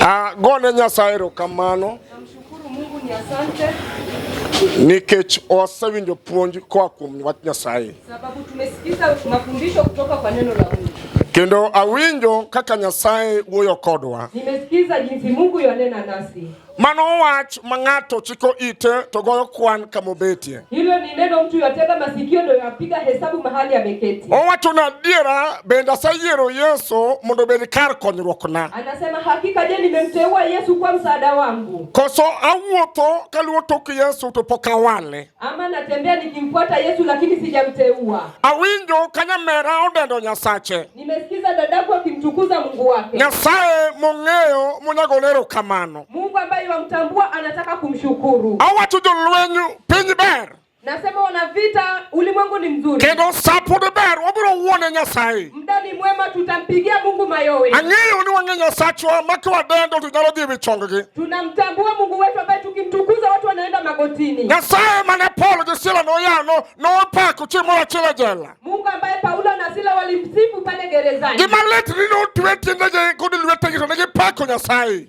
Ah, gone Nyasaye erokamano nikech osewinjo puonj koa kuom wach Nyasaye. Sababu tumesikiza mafundisho kutoka kwa neno la Mungu. Kendo awinjo kaka Nyasaye wuoyo kodwa. Nimesikiza jinsi Mungu yonena nasi. Mano wach ma ng'ato chiko ite to goyo kwan kama obetie. Hilo ni neno mtu yatega masikio ndio yapiga hesabu mahali ameketi. Owacho na adiera bende aseyiero Yesu mondo obed kar konyruokna. Anasema hakika je, nimemteua Yesu kwa msaada wangu. Koso awuotho kaluwo tok Yesu to pok awale. Ama natembea nikimfuata Yesu lakini sijamteua. Awinjo kanyamera odendo Nyasache. Nimesikiza dadaku akimtukuza Mungu wake. Nyasaye mong'eyo monego lero kamano. Mungu ambaye wamtambua anataka kumshukuru. Awacho jolwenyu piny ber. Nasema wana vita ulimwengu ni mzuri. Kendo sapo de ber wabiro wuone Nyasaye. Mdani mwema tutampigia Mungu mayowe. Ang'eyo ni wang'e Nyasachwa ma kiwadendo to nyalo dhi e wi chonggi. Tunamtambua Mungu wetu ambaye tukimtukuza watu wanaenda magotini. Nyasaye mane Paulo gi Sila noyano nopako chieng' moro achiel e jela. Mungu ambaye Paulo na Sila walimsifu pale gerezani. Gima lit ni notwe tiendegi kod lwetegi to ne gipako Nyasaye.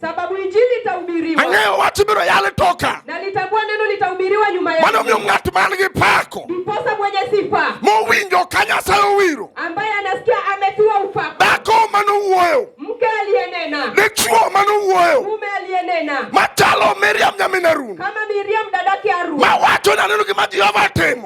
Sababu injili itahubiriwa. Ang'eyo wach biro yal toka. Na litagua neno litahubiriwa nyuma yake. Mano miyo ng'at man gi pako. Ndiposa mwenye sifa. Mowinjo ka Nyasaye owiro. Ambaye anasikia ametiwa upako. Dhako mano wuoyo. Mke aliyenena. Dichwo mano wuoyo. Mume aliyenena. Machalo Miriam nyamin Harun. Kama Miriam dadake Harun. Mawacho naneno gima Jehova timo.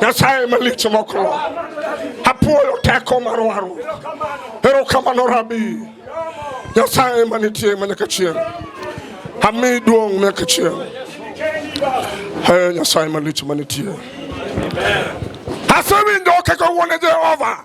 Nyasaye malich mokro apuoyo teko mar waru erokamano rabi Nyasaye manitie ma nyaka chieng' ami duong' nyaka chieng' Hey, Nyasaye malich manitie asewinjo kaka wuone Jehova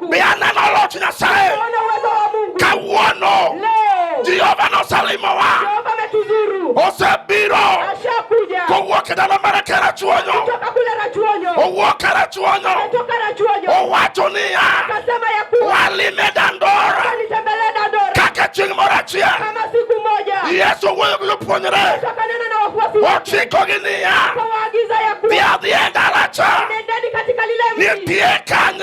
Biananalo Nyasaye kawuono Jehova nosalimowa, osebiro kowuok e dala mar Karachuonyo, owuok Karachuonyo, owacho niya, walime Dandora kaka chieng' moro achiel. Yesu owuoyo gi jopuonjre, ochikogi niya, dhi adhiya e dala cha, nitie kanyo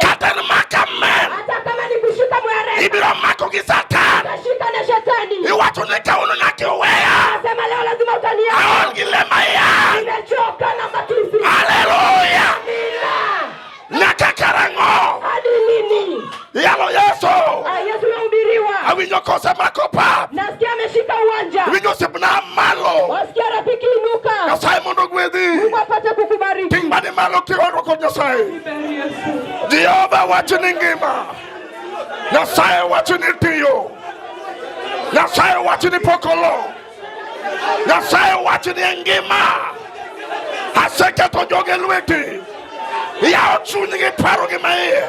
kata nimaka mmel ibiro mako gi satan iwacho ni kawuono nyaka iweya aol gi lema yan haleluya nyaka karang'o Yalo Yesu. Ah, Yesu anahubiriwa. Awinyo kose mako pap. Nasikia ameshika uwanja. Winyo sipna malo. Wasikia rafiki inuka. Nyasaye mondo ogwedhi. Mungu apate kukubariki. Ting' mani malo kioro kod Nyasaye. Jehova wacho ni ngima. Nyasaye wacho ni tiyo. Nyasaye wacho ni pokolo. Nyasaye owacho ni engima aseketho joge lweti yawo chunygi parogi ma iye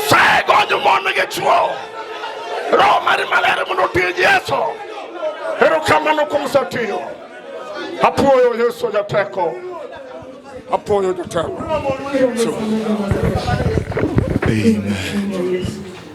saye gonyo mon gi chuo roho mari maler mondo otij yesu erokamano kuom satiyo apuoyo yesu jateko apuoyo jateko Amen.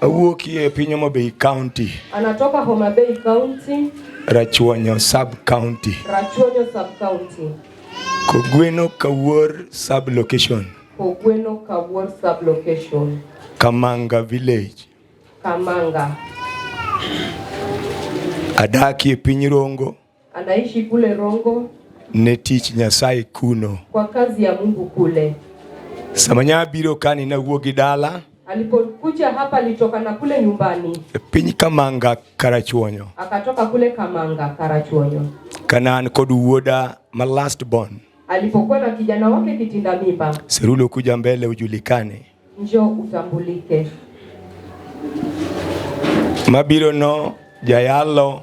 Awuokie piny Homa Bay County. Anatoka Homa Bay County. Rachuonyo Sub County. Rachuonyo Sub County. Kogweno Kawuor Sub Location. Kogweno Kawuor Sub Location. Kamanga Village. Kamanga. Adakie piny Rongo. Anaishi kule Rongo. Ne tich Nyasaye kuno. Kwa kazi ya Mungu kule. Samanya biro kani na wuogi dala. Alipokuja hapa alitoka na kule nyumbani. E piny Kamanga Karachuonyo. Akatoka kule Kamanga Karachuonyo. Kanan kod wuoda ma last born. Alipokuwa na kijana wake kitinda mimba. Serulo kuja mbele ujulikane. Njoo utambulike. Mabiro no jayalo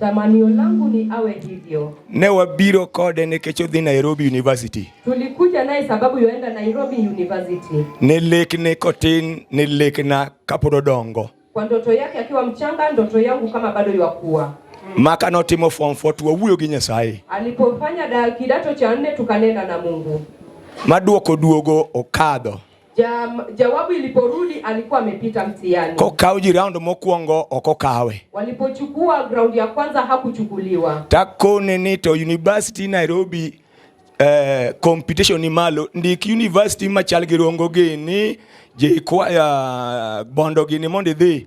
Tamanio langu ni awe hivyo. Ne wabiro kode nikech odhi Nairobi University. Tulikuja naye sababu yoenda Nairobi University. Ne lekne kotin, ne lekna kapod odongo. Kwa ndoto yake akiwa mchanga, ndoto yangu kama bado yakuwa. Maka notimo form 4 tuwawuoyo gi Nyasaye. Alipofanya kidato cha nne tukanena na Mungu. Maduoko duogo okadho. Ja, jawabu iliporudi alikuwa amepita mtihani. Kokaw ji round mokwongo ok okawe. Walipochukua ground ya kwanza hakuchukuliwa. Takone ni to University Nairobi eh, competition ni malo ndik university machal gi Rongo gini jikwaya bondo gini mondo idhi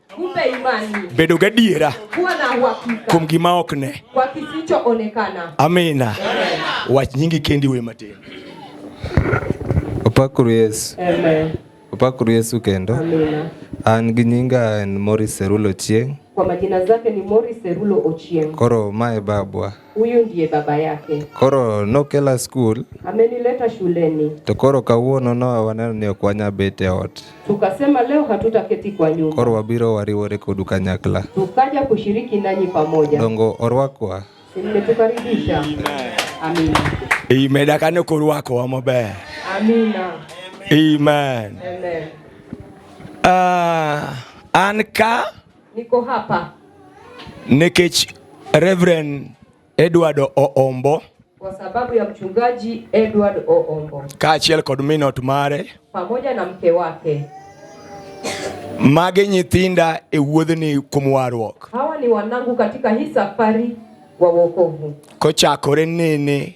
Kumbe imani, bedo gadiera kuwa na uhakika kuom gima ok ne, kwa kisichoonekana. Amina. Wach nyingi kendi we matin. Opakuru Yesu. Amen. Opakuru Yesu kendo. Amina. An gi nyinga en Morris Serulo Ochieng. Kwa majina zake ni Morris Serulo Ochieng. Koro mae babwa. Huyu ndiye baba yake. Koro nokela skul. Amenileta shuleni. To koro kawuono no waneno ni ok wanya bet e ot. Tukasema leo hatutaketi kwa nyumba. Koro wabiro wariwore kodu kanyakla. Tukaja kushiriki nanyi pamoja. Dongo orwakwa. Nimetukaribisha. Amina. Imedakane kurwakowa maber. Amina. Amen. Amen. Uh, an ka Niko hapa nikech Reverend Edward Oombo kwa sababu ya mchungaji Edward Oombo kaachiel kod minot mare pamoja na mke wake. Magi nyithinda e wuodhni kuom warruok. Hawa ni wanangu katika hii safari wa wokovu. Kochakore nene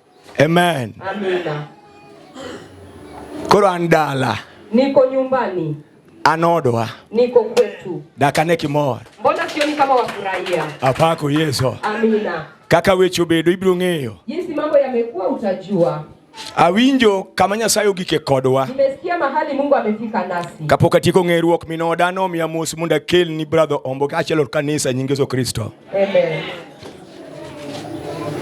Amen. Amina. Koro an dala. Niko nyumbani. Anodwa. Niko kwetu. Dakane kimor. Mbona sioni kama wafurahia? Apako Yesu. Amina. Kaka weche obedo ibiro ng'eyo. Jinsi mambo yamekuwa utajua. Awinjo kama Nyasaye ogike kodwa. Nimesikia mahali Mungu amefika nasi. Kapok atieko ng'eruok minoda nomiya mos mondo akelni brother Omboka achiel kanisa nyingezo Kristo. Amen.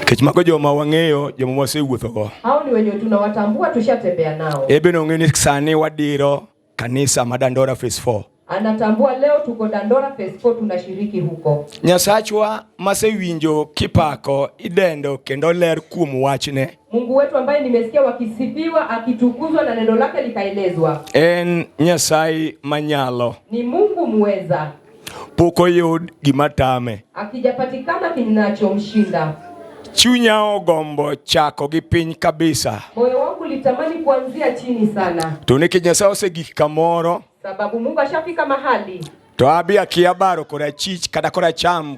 Kech mago joma wang'eyo joma wasewuothogo. Hao ni wenye tunawatambua tushatembea nao. Ebe nong'e ni sani wadiro kanisa ma Dandora phase 4. Anatambua leo tuko Dandora phase 4 tunashiriki huko. Nyasachwa masewinjo kipako idendo kendo ler kuom wachne. Mungu wetu ambaye nimesikia wakisifiwa akitukuzwa na neno lake likaelezwa. En Nyasaye manyalo. Ni Mungu muweza. pok oyud gima tame, akijapatikana kinachomshinda. Chunya ogombo chako gi piny kabisa, moyo wangu litamani kuanzia chini sana, to nikech Nyasaye osegik kamoro, sababu Mungu ashafika mahali to abi akia baro korachich kata koracham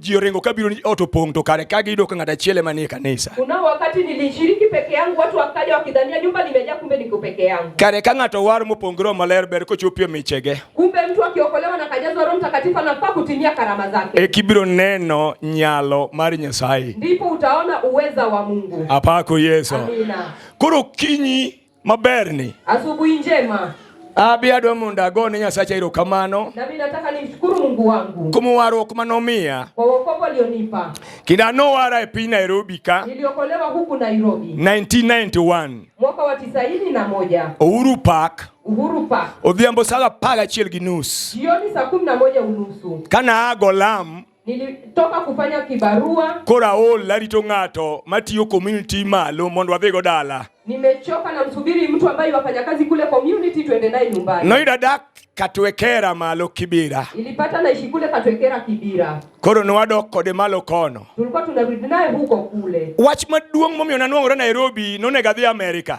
ji oringo ka biro ni ot opong' to kare ka giyudo ka ng'at achiel ema nie kanisa. Kuna wakati nilishiriki peke yangu, watu wakaja wakidhania nyumba limejaa, kumbe niko peke yangu. Kare ka ng'ato war mopong' gi Roho Maler ber kochopie michege. Kumbe mtu akiokolewa na kajazwa Roho Mtakatifu anafaa kutimia karama zake, E kibiro neno nyalo mar Nyasaye. ndipo utaona uweza wa Mungu. Apako Yesu. Amina. Koro kinyi maberni. Asubuhi njema. Abi adwa mondo ago ne Nyasacha erokamano. Na mimi nataka nimshukuru Mungu wangu. Kuom warruok ma nomiya. Kwa wokovu alionipa. Kinda nowara e piny Nairobi ka. Niliokolewa huku Nairobi. 1991. Mwaka wa 91. Uhuru Park. Uhuru Park. Odhiambo saa apar gachiel gi nus. Jioni saa kumi na moja unusu. Kana ago lam. Nilitoka kufanya kibarua. Kora ol arito ng'ato matiyo community malo mondo wadhigo dala. Nimechoka na msubiri mtu ambaye wafanya kazi kule community tuende naye nyumbani. Noida dak Katwekera malo Kibira. Ilipata naishi kule Katwekera Kibira. Koro nwadok kode malo kono. Tulikuwa tunarudi naye huko kule. Wach maduong' momiyo nanwang'ore Nairobi nonego adhi Amerika.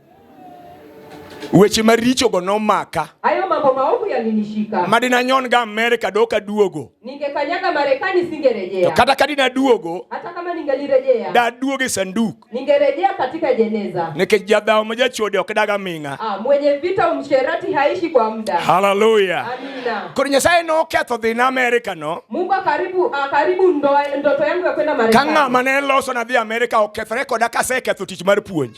weche marichogo nomaka hayo mambo maovu yalinishika madina nyon ga Amerika doka duogo ningekanyaga Marekani singerejea to kata kadina duogo hata kama ningelirejea da duoge sanduku ningerejea katika jeneza nikech jadhawo ma jachode ok daga ming'a ah, mwenye vita msherati haishi kwa muda haleluya amina koro nyasaye noketho dhi na Amerika no Mungu akaribu akaribu ndoto yangu ya kwenda Marekani ka ng'ama ne loso na dhi Amerika okethore koda kaseketho tich mar puonj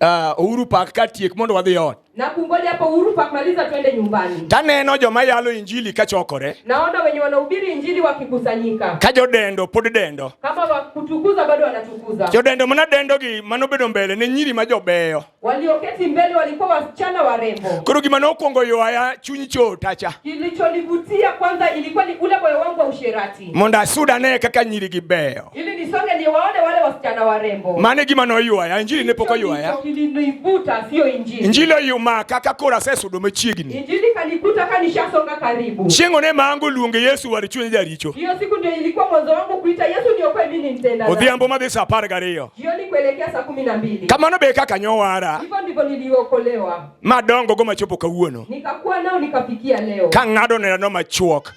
uh, Uhuru Park ka tiek mondo wadhi ot. Na kungoja hapo Uhuru Park maliza twende nyumbani. Taneno joma yalo injili kachokore. Naona wenye wanahubiri injili wakikusanyika. Ka jodendo pod dendo. Kama wakutukuza bado wanatukuza. Jodendo mana dendo gi mano bedo mbele ne nyiri ma jobeyo. Walioketi mbele walikuwa wasichana warembo. Koro gima nokwongo ywaya chuny chotacha. Kilichonivutia kwanza ilikuwa ni ule moyo wangu wa usherati. mondo asud ane kaka nyirigi beyo. Mano e gima noywaya, injili ne pok oywaya. Injili oyumaka ka koro asesudo machiegni. Chieng' one ma ango luonge Yesu war chuny jaricho. Odhiambo madhi sa apar gariyo. Kamano be kaka nyowara. Madongo go machopo kawuono. Ka ng'ado neno machuok.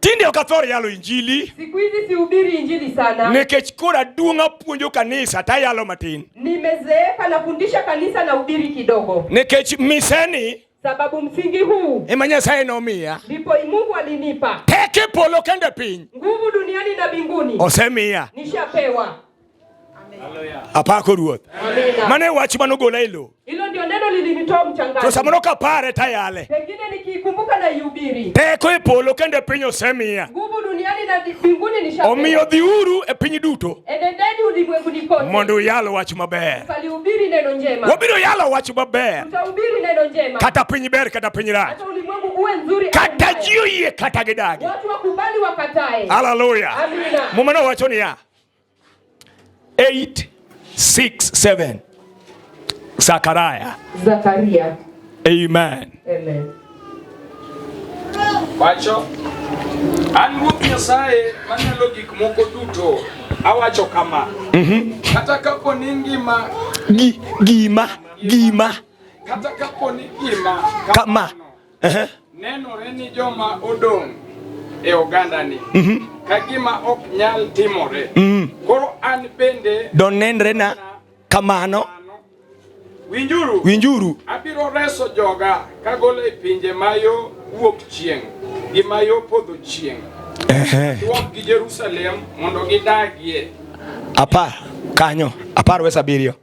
Tinde ok athor yalo injili. Siku hizi sihubiri injili sana. Nikech koro aduong' apuonjo kanisa to ayalo matin. Nimezeeka nafundisha kanisa na hubiri kidogo. Nikech miseni sababu msingi huu ema Nyasaye nomiya ndipo Mungu alinipa teke polo kende piny nguvu duniani na mbinguni osemiya nishapewa Apako Ruoth. Mane wach mano gola e lowo. Hilo ndio neno lilinitoa mchangani. To samoro kapare tayale. Pengine nikikumbuka na ihubiri. Teko e polo kendo e piny osemiya. Nguvu duniani na mbinguni nishapewa. Omiyo dhiuru e piny duto. Enendeni ulimwenguni kote. Mondo uyal wach maber. Ukalihubiri neno njema. Wabiro yalo wach maber. Tutahubiri neno njema. Kata piny ber kata piny rach. Hata ulimwengu uwe nzuri. Kata jio yie kata gidagi. Watu wakubali wakatae. Haleluya. Amina. Mumana wacho niya. 8 6 7 Zakaria. Zakaria. Amen. Amen. Wacho an Ruoth Nyasaye manyalo gik moko duto awacho kama mm -hmm. kata kapo ni ngima gi, gima gima kata kapo ni gima kama, kama. Nenore ni joma odong' e ogandani mhm. ka gima ok nyal timore. Mhm. Koro an bende donenre na kamano. Winjuru, winjuru, abiro reso joga kagolo e pinje ma yo wuok chieng' gi ma yo podho chieng' duok gi Jerusalem mondo gidagie. Apar kanyo apar wes abiriyo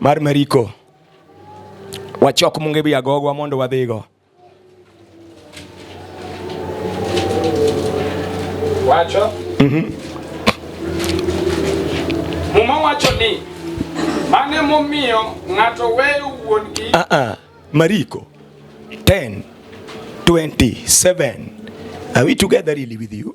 mar Mariko. Wachok munge bi agogwa mondo wadhigo. Wacho? Mhm. Mm Muma wacho ni mane momiyo ng'ato weyo wuongi. Ah uh ah, -uh. Mariko 10 27 Are we together really with you?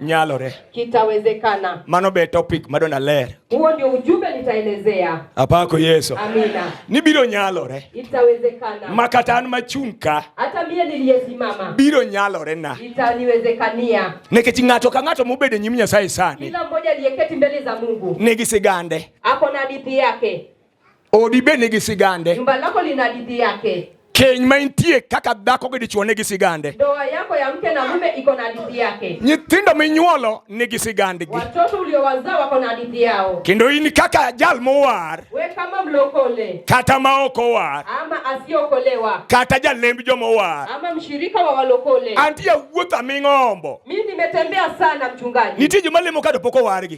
nyalore. Kitawezekana. Mano be topic ma dona ler. Huo ndio ujumbe nitaelezea. Apako Yesu. Amina. Ni biro nyalore. Itawezekana. Makata an machung' ka. Hata mie niliyesimama. Biro nyalore na. Itaniwezekania. Nikech ng'ato ka ng'ato mobedo e nyim Nyasaye sani. Kila mmoja aliyeketi mbele za Mungu. Nigi sigande. Ako na hadithi yake. Odi be nigi sigande. Nyumba lako lina hadithi yake. Keny ma intie kaka dhako gi dichwo nigi sigande. Ndoa yako ya mke na mume iko na hadithi yake. Nyithindo minyuolo nigi sigandgi. Watoto uliowazaa wako na hadithi yao. Kendo in kaka jal mowar. We kama mlokole. Kata ma ok owar. Ama asiokolewa. Kata jalemb joma owar. Ama mshirika wa walokole. Antie wuotha ming'ombo. Mimi nimetembea sana mchungaji. Nitie joma lemo ka pok owargi.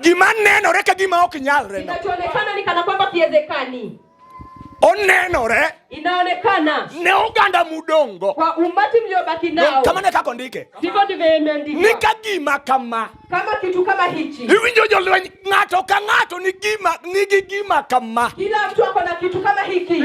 Gima nenore ka gima ok nyalre. Kinachoonekana ni kana kwamba kiwezekani. Onenore. Inaonekana. Ne oganda mudongo. Kwa umati mliobaki nao. Kama ne kako ndike. Ndivyo ndivyo imeandikwa. Ni ka gima kama. Kama kitu kama hichi. Iwinjo jolweny ng'ato ka ng'ato ni gima ni gima kama. Kila mtu ako na kitu kama hiki.